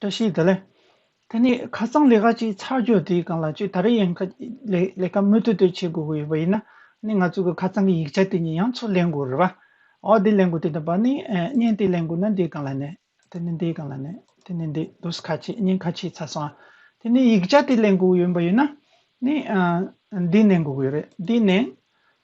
བཀྲ་ཤིས་བདེ་ལེགས། ད་ནི་ཁ་རྩང་ལས་ཀ་ཅིག་ཚར་གྱོ་དེའི་སྒང་ལ་ཅིག་ད་རེ་ཡང་ལས་ཀ་མུ་མཐུད་དུ་བྱེད་དགོས་ཀྱི་ཡོད་པ་ཡིན་ན་ནི་ང་ཚོས་ཁ་རྩང་གི་ཡིག་ཆ་དེ་ཉིད་ཡང་ཚུར་ལེན་དགོས་རེད་བ། འོ་དེ་ལེན་དགོས་དེ་འདྲ་བ་ནི་བརྙན་དེ་ལེན་དགོས་ན་འདིའི་སྒང་ལ་ནི་དེ་ནི་འདིའི་སྒང་ལ་ནི་དེ་ནི་འདི་དུ་ཁ་ཆེ་བརྙན་ཁ་ཆེ་ཚར་སོང་བ། དེ་ནི་ཡིག་ཆ་དེ་ལེན་དགོས་ཀྱི་ཡོད་པ་ཡིན་ན་ནི་འདི་ལེན་དགོས་ཀྱི་ཡོད་རེད་འདི་ནི།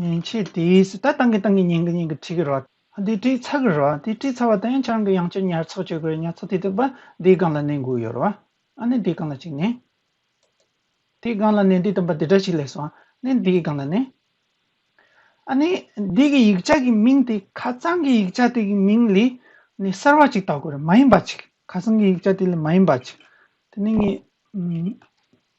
ཉན་བྱེད་དེ་སྲིད་ད་ཏང་གི་ཏང་གི་ཉན་གི་ཉན་གི་བྲིས་གི་རོ། དེ་བྲིས་ཚར་གི་རོ། དེ་བྲིས་ཚར་བ་དང་ཡང་ཆ་རང་གི་ཡང་ཆ་ཉར་ཚགས་བྱེད་དགོས་རེད་ཉར་ཚགས་དེ་དག་པ་དེའི་སྒང་ལ་གནས་འགོ་ཡོད་རོ། ཨ་ནི་དེའི་སྒང་ལ་ཅིག་གནས། དེའི་སྒང་ལ་གནས་དེ་དང་པ་དེ་འདྲ་ཞིག་ལས་སོ། ནས་དེའི་སྒང་ལ་གནས། ཨ་ནི་དེ་གི་ཡིག་ཆ་གི་མིང་དེ་ཁ་རྩང་གི་ཡིག་ཆ་དེ་གི་མིང་ལས་ནས་གསར་བ་ཅིག་བཏགས་དགོས་རེད་མ་ཡིན་པ་ཅིག་ཁ་རྩང་གི་ཡིག་ཆ་དེ་ལས་མ་ཡིན་པ་ཅིག་དེ་ནས་ངས།